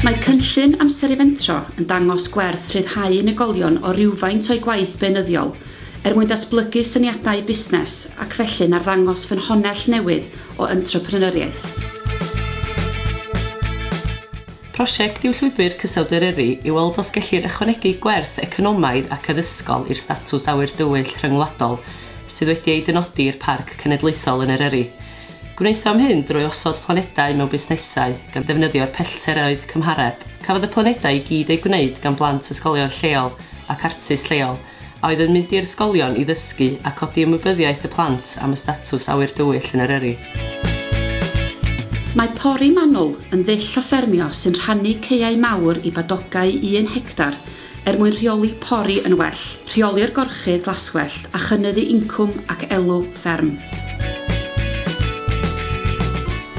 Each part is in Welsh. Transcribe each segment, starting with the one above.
Mae cynllun Amser i Fentro yn dangos gwerth rhyddhau unigolion o rywfaint o'u gwaith beunyddiol er mwyn datblygu syniadau busnes ac felly'n arddangos ffynhonnell newydd o entrepreneuriaeth. Prosiect yw Llwybr Cysawd Eryri i weld os gellir ychwanegu gwerth economaidd ac addysgol i'r statws Awyr Dywyll Rhyngwladol sydd wedi ei dynodi i'r Parc Cenedlaethol yn Eryri. Gwnaethom hyn drwy osod planedau mewn busnesau gan ddefnyddio'r pellteroedd cymhareb. Cafodd y planedau i gyd eu gwneud gan blant ysgolion lleol ac artist lleol, a oedd yn mynd i'r ysgolion i ddysgu a codi ymwybyddiaeth y plant am y statws awyr dywyll yn Eryri. Mae Pori Manwl yn ddull o ffermio sy'n rhannu caeau mawr i badogau un hectar er mwyn rheoli pori yn well, rheoli'r gorchudd glaswellt a chynyddu incwm ac elw fferm.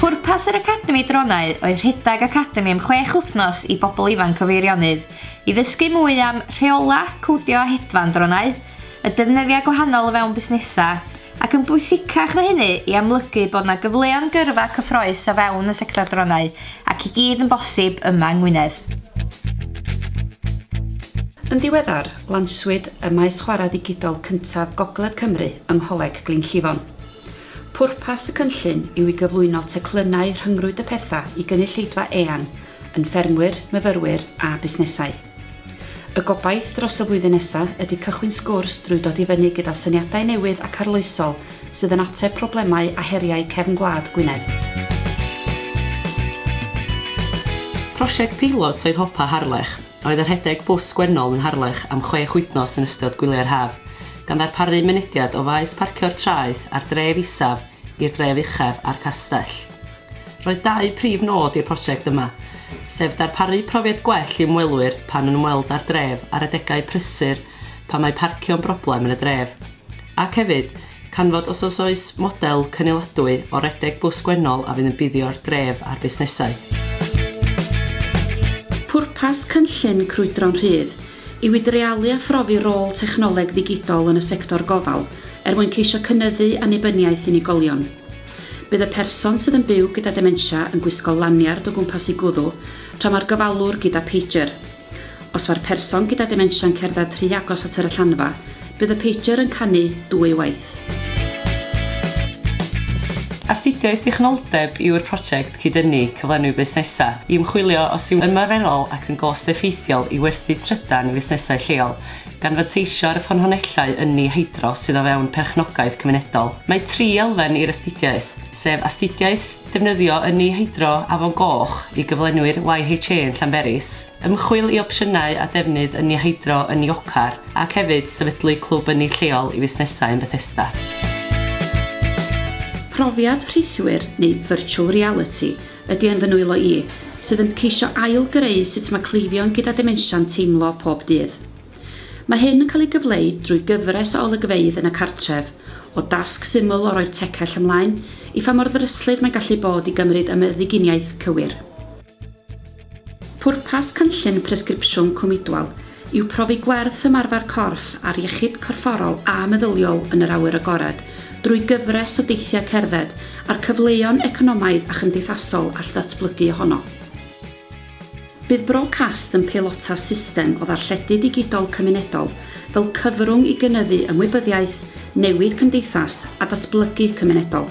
Pwrpas yr Academi Dronau oedd rhedeg academi am chwech wythnos i bobl ifanc o Feirionnydd, I ddysgu mwy am rheolau, codio a hedfan dronau, y defnyddiau gwahanol o fewn busnesau, ac yn bwysicach na hynny, i amlygu bod yna gyfleon gyrfa cyffroes o fewn y sector dronau, ac i gyd yn bosib yma yng Ngwynedd. Yn ddiweddar, lanswyd y maes chwarae ddigidol cyntaf Gogledd Cymru yng Ngholeg Glynllifon. Pwrpas y cynllun yw i gyflwyno teclynnau rhyngrwyd y pethau i gynulleidfa eang yn ffermwyr, myfyrwyr a busnesau. Y gobaith dros y flwyddyn nesaf ydy cychwyn sgwrs drwy dod i fyny gyda syniadau newydd ac arloesol sydd yn ateb problemau a heriau cefn gwlad Gwynedd. Prosiect peilot oedd Hopa Harlech, a oedd yn rhedeg bws gwennol yn Harlech am chwech wythnos yn ystod gwyliau'r haf. gan ddarparu mynediad o faes parcio'r traeth a'r dref isaf i'r dref uchaf a'r castell. Roedd dau prif nod i'r prosiect yma, sef darparu profiad gwell i ymwelwyr pan yn ymweld â'r dref ar adegau prysur pan mae parcio'n broblem yn y dref, ac hefyd, canfod os os oes model cynniladwy o redeg bws gwennol a fydd yn buddio'r dref a'r busnesau. Pwrpas cynllun Crwydro'n Rhydd yw i dreialu a phrofi rôl technoleg ddigidol yn y sector gofal er mwyn ceisio cynyddu annibyniaeth unigolion. Bydd y person sydd yn byw gyda dementia yn gwisgo laniard o gwmpas ei gwddw tra mae'r gofalwr gyda pager. Os mae'r person gyda dementia'n cerdded rhy agos at yr allanfa, bydd y pager yn canu dwywaith. Astudiaeth dichonoldeb yw'r prosiect cyd-dynnu cyflenwi busnesau i ymchwilio os yw'n ymarferol ac yn gost-effeithiol i werthu trydan i fusnesau lleol, gan fanteisio ar y ffynhonnellau ynni hydro sydd o fewn perchnogaeth cymunedol. Mae tri elfen i'r astudiaeth, sef astudiaeth, Defnyddio ynni hydro Afon Goch i gyflenwi'r YHA yn Llanberis, ymchwil i opsiynau a defnydd ynni hydro yn Niocar ac hefyd sefydlu clwb ynni lleol i fusnesau yn Bethesda. Profiad rhithwir neu virtual reality ydy yn fy nwylo i, sydd yn ceisio ail-greu sut mae cleifion gyda demensia'n teimlo pob dydd. Mae hyn yn cael ei gyfleu drwy gyfres o olygfeydd yn y cartref, o dasg syml o roi'r tecell ymlaen, i pha mor ddryslyd mae'n gallu bod i gymryd y meddyginiaeth cywir. Pwrpas cynllun Presgripsiwn Cwm Idwal yw profi gwerth ymarfer corff a'r iechyd corfforol a meddyliol yn yr awyr agored drwy gyfres o deithiau cerdded a'r cyfleon economaidd a chymdeithasol all ddatblygu ohono. Bydd Brocast yn peilota system o ddarlledu digidol cymunedol fel cyfrwng i gynyddu ymwybyddiaeth, newid cymdeithas a datblygu cymunedol.